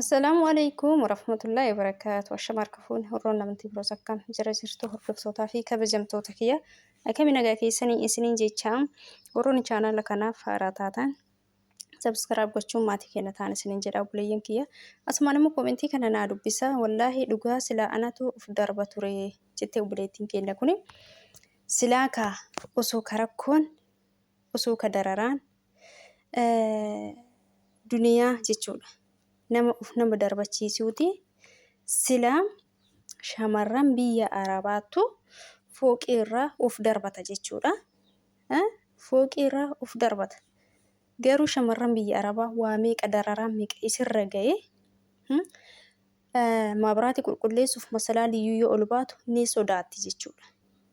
Assalaamu alaikum warahmatullahi wabarakaatu. Ashama harka fuune horroon namatti biroos akkam jira jirtu hordoftootaa fi kabajamtoota kiyya akkami nagaa keessanii isiniin jechaam warroonni chaanala kanaaf haaraa taatan sabskiraab gochuun maatii keenya ta'an isiniin jedha obboleeyyan kiyya asumaan immoo koomentii kana naa dubbisa wallaahi dhugaa silaa anatu of darba ture jettee obboleettiin keenya kuni silaa kaa osoo ka rakkoon osoo ka dararaan duniyaa jechuudha. Nama uf nama darbachiisuuti. Silaa shamarran biyya arabaattu fooqii irraa uf darbata jechuudha. Fooqii irraa uf darbata. Garuu shamarran biyya arabaa waa meeqa dararaa meeqa isirra ga'e Maabiraati qulqulleessuuf masalaa liyyuu yoo ol baatu ni sodaatti jechuudha.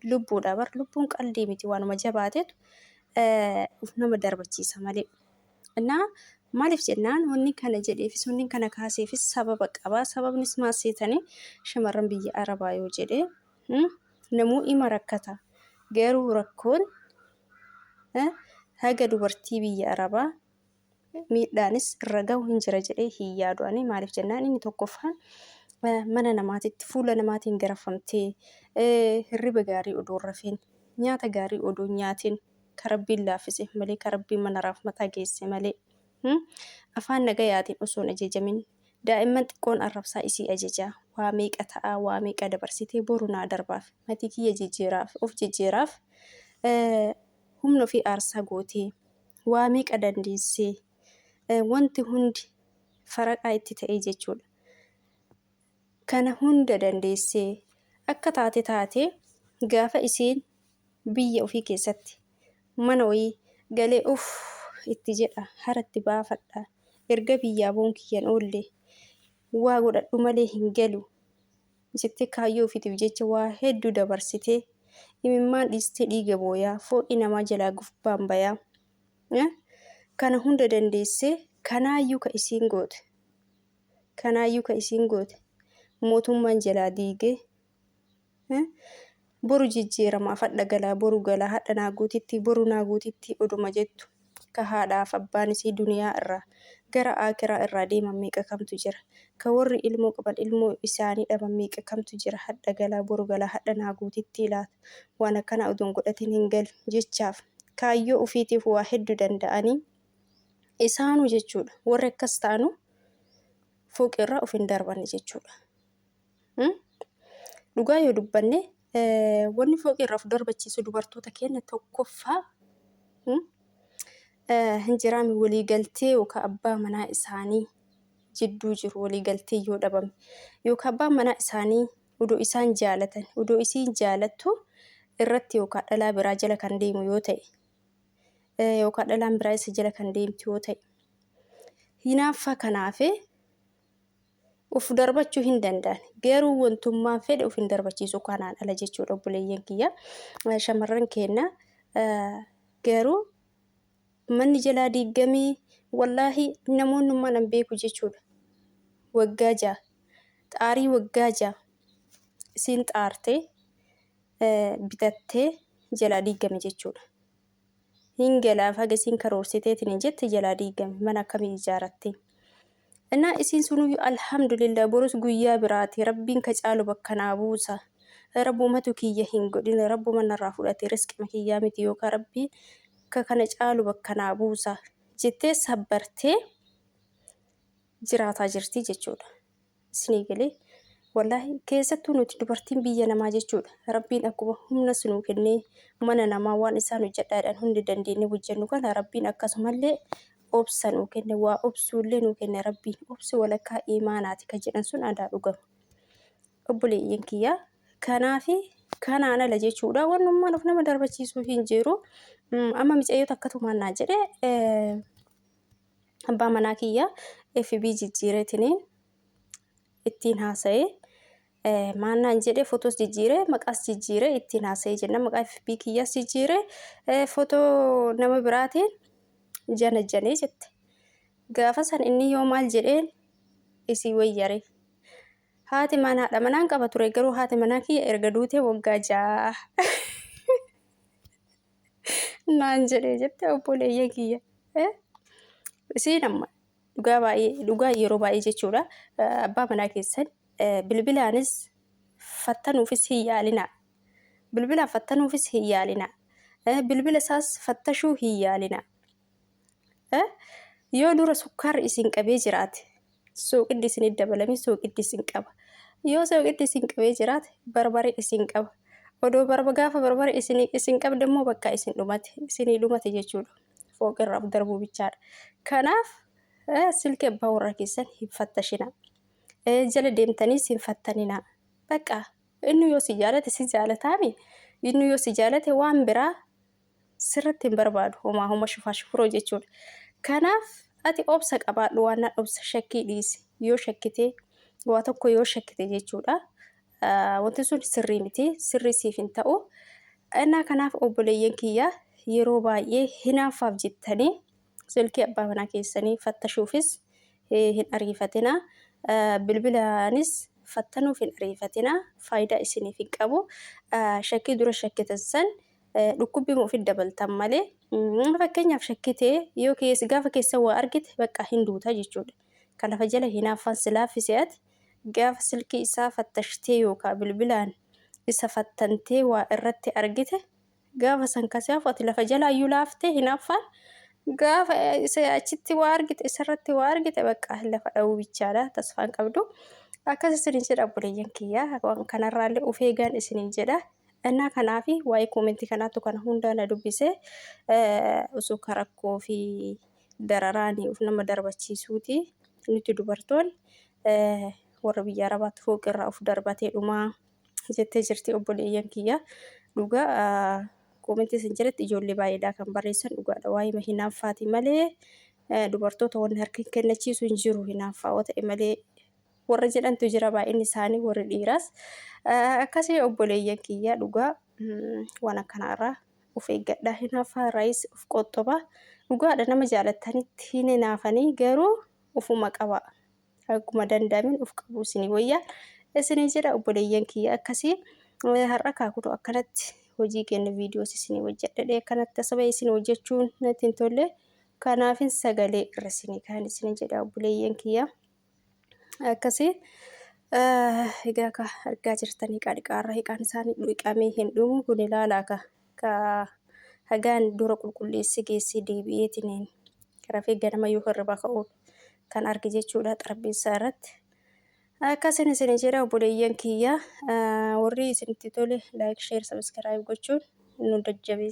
Lubbuudha bar lubbuun qaldii miti waanuma jabaatetu uf nama darbachiisa malee. Innaa maaliif jennaan wanni kana jedheefis wanni kana kaaseefis sababa qaba. Sababnis maal seetanii shamarran biyya arabaa yoo jedhee namuu ima rakkata. Garuu rakkoon haga dubartii biyya arabaa miidhaanis irra gahu hin jira jedhee hin yaadu ani maaliif jennaan inni tokkoffaan mana namaatitti fuula namaatiin garafamtee hirriba gaarii odoo rafiin nyaata gaarii odoo nyaatiin ka rabbiin laaffiseef malee ka rabbiin mana raafmataa geesse malee afaan nagayaatiin osoo hin ajeejamin daa'imman xiqqoon arrabsaa isii ajejaa waa meeqa ta'aa waa meeqa dabarsitee boru naa darbaaf matii kiyya jijjiiraaf of jijjiiraaf humna ofii aarsaa gootee Waa meeqa dandeessee? Wanti hundi faraqaa itti ta'ee jechuudha. Kana hunda dandeessee akka taate taatee gaafa isiin biyya ofii keessatti mana wayii galee uff itti jedha hara itti baafadha erga biyyaa boon kiyyan oolle waa godhadhu malee hin galu Misiktee kaayyoo ofiitiif jecha waa hedduu dabarsitee, imimmaan dhiistee dhiiga booyaa, fooqii namaa jalaa gubbaan bayaa, eh, kana hunda dandeessee kanaayyuu ka isiin goote, kanaayyuu ka isiin goote mootummaan jalaa diigee, eh, Boru jijjiiramaaf hadha galaa boru galaa hadha naa guutitti boru naa guutitti oduma jettu ka haadhaaf abbaan isii duniyaa irraa gara aakiraa irraa deeman meeqa kamtu jira ka worri ilmoo qaban ilmoo isaanii dhaban meeqa kamtu jira hadha galaa boru galaa hadha naa guutitti laata waan akkanaa odoon godhatin hin galu jechaaf kaayyoo ufiitiif waa heddu danda'anii isaanu jechuudha worri akkas ta'anu fooqi irraa of hin darbanne jechuudha. Dhugaa yoo dubbanne wanni fooqii irraa of darbachiisu dubartoota keenya tokkoffaa hin jiraame waliigaltee yookaan abbaa manaa isaanii jidduu jiru waliigaltee yoo dhabame yookaan abbaan manaa isaanii odoo isaan jaalatan odoo isiin jaalattu irratti yookaan dhalaa biraa jala kan deemu yoo ta'e yookaan dhalaan biraa isa jala kan deemtu yoo ta'e hinaaffaa kanaafee Of darbachuu hin danda'an. Garuu wantummaan fedhe of hin darbachiisu kanaan ala jechuudha obboleeyyan kiyya. Shamarran keenna garuu manni jalaa diiggamee wallaahi namoonnummaan an beeku jechuudha. Waggaa ja'a. Xaarii waggaa ja'a. Isiin xaartee bitattee jalaa diiggame jechuudha. hin galaaf haga isiin karoorsiteetini jette jalaa diigame mana akkamii ijaarattee innaa isiin sunuyyu alhamdulillah borus guyyaa biraati rabbiin ka caalu bakka naa buusa rabbumatu kiyya hin godhin rabbuma narraa fudhate risqima kiyyaa miti yookaa rabbii ka kana caalu bakka naa buusa jettee sabbartee jiraataa jirti jechuudha. Isinii galee? Wallaahi keessattuu nuti dubartiin biyya namaa jechuudha. Rabbiin akkuma humna sinuu kennee mana namaa waan isaan hojjedhaadhaan hundi dandeenye hojjennu kana Rabbiin akkasumallee obsa nuu kenne waa obsuullee nuu kenne Rabbiin obsi walakkaa imaanaati ka jedhan sun adaa dhugama. Obboleeyyan kiyyaa kanaafi kanaan ala jechuudha wannummaan of nama darbachiisuu hin jiru. Amma micayyoo takkatumaan naa jedhe abbaa manaa kiyya FB jijjiireetiniin ittiin haasa'e. Eh, Maal naan jedhe fotos jijjiire maqaas jijjiire ittiin haasa'e jenna maqaa FB kiyyaas jijjiire eh, fotoo nama biraatiin janajjanee jette. Gaafa san inni yoo maal jedheen isii wayyare. Haati manaa haadha manaan qaba ture garuu haati manaa kiyya erga duutee waggaa ja'a. naan jedhee jette obboleeyya kiyya. Isiin amma dhugaa baay'ee dhugaa yeroo baay'ee jechuudha abbaa manaa keessan bilbilaanis fattanuufis hin yaalinaa. Bilbilaan fattanuufis hin yaalinaa. Bilbila isaas fattashuu hin yaalinaa. Yoo dura sukkaarri isin qabee jiraate suuqiddi isin dabalame suuqiddi isin qaba. Yoo suuqiddi isin qabee jiraate barbaree isin qaba. Odoo barba gaafa barbaree isin isin qabde immoo bakka isin dhumate isinii dhumate jechuudha. Fooqirraaf darbuu bichaadha. Kanaaf silkee abbaa warraa keessan hin fattashina. Jala deemtaniis hin fattanina. Bakka inni yoo si jaalate si jaalataami. Inni yoo si jaalate waan biraa sirratti hin barbaadu homaa homa shufaa shufuroo jechuudha kanaaf ati obsa qabaadhu waan nan obsa shakkii dhiisi yoo shakkitee waa tokko yoo shakkite jechuudha wanti sun sirrii miti sirrii siif hin ta'u innaa kanaaf obboleeyyan kiyya yeroo baay'ee hinaaffaaf jettanii silkii abbaa manaa keessanii fattashuufis hin ariifatina bilbilaanis fattanuuf hin ariifatina faayidaa isiniif hin qabu shakkii dura shakkitan san dhukkubbii moo ofitti dabaltan malee fakkeenyaaf shakkitee yoo keessa gaafa keessa waa argite bakka hin duuta jechuudha. Kan lafa jala hinaaffaan si laaffise ati gaafa silkii isaa fattashtee yookaan bilbilaan isa fattantee waa irratti argite gaafa san kasi hafu ati lafa jala iyyuu laaftee hinaaffaan gaafa isa achitti waa argite isarratti waa argite bakka lafa dha'uu bichaadha tasfaan qabdu. Akkas isiniin jedha obboleeyyan kiyya waan kanarraallee of eegaan isiniin jedha. Ennaa kanaa fi waa'ee koomentii kanaattu kana hundaa na dubbise osoo ka rakkoo fi dararaani of nama darbachiisuuti nuti dubartoon warra biyya arabaatti fooqirraa of darbatee dhumaa jettee jirti obboleeyyan kiyya dhugaa koomentii isin jalatti ijoollee baay'eedhaa kan barreessan dhugaadha waa'ee ma hinaaffaati malee dubartoota wanni harka hin kennachiisu hin jiru hinaaffaa yoo ta'e malee warra jedhantu jira baay'inni isaanii warri dhiiraas akkasii obboleeyyan kiyya dhugaa waan akkanaa irraa of eeggadhaa hin hafaa raayis of qoxxobaa dhugaadha nama jaalattanitti hin hinaafanii garuu ofuma qabaa akkuma danda'amin of qabuu isinii wayyaa isinii jedha obboleeyyan kiyya akkasii har'a kaa kunoo akkanatti hojii keenya viidiyoos isinii hojjedhadhe akkanatti asaba isin hojjechuun natti hin tolle kanaafin sagalee irra isinii kaan isinii jedha obboleeyyan kiyya. akkasii egaa ka argaa jirtanii qaadhiqaarra hiqaan isaanii dhiqamee hin dhumu kun ilaalaa ka ka hagaan dura qulqulleessi geessee deebi'eetiin rafee ganama yoo hirriba ka'u kan arge jechuudha xarbeessaa irratti. Akkasin isin jedha obboleeyyan kiyya warri isinitti tole laayik sheer sabiskiraayib gochuun nu jajjabeessa.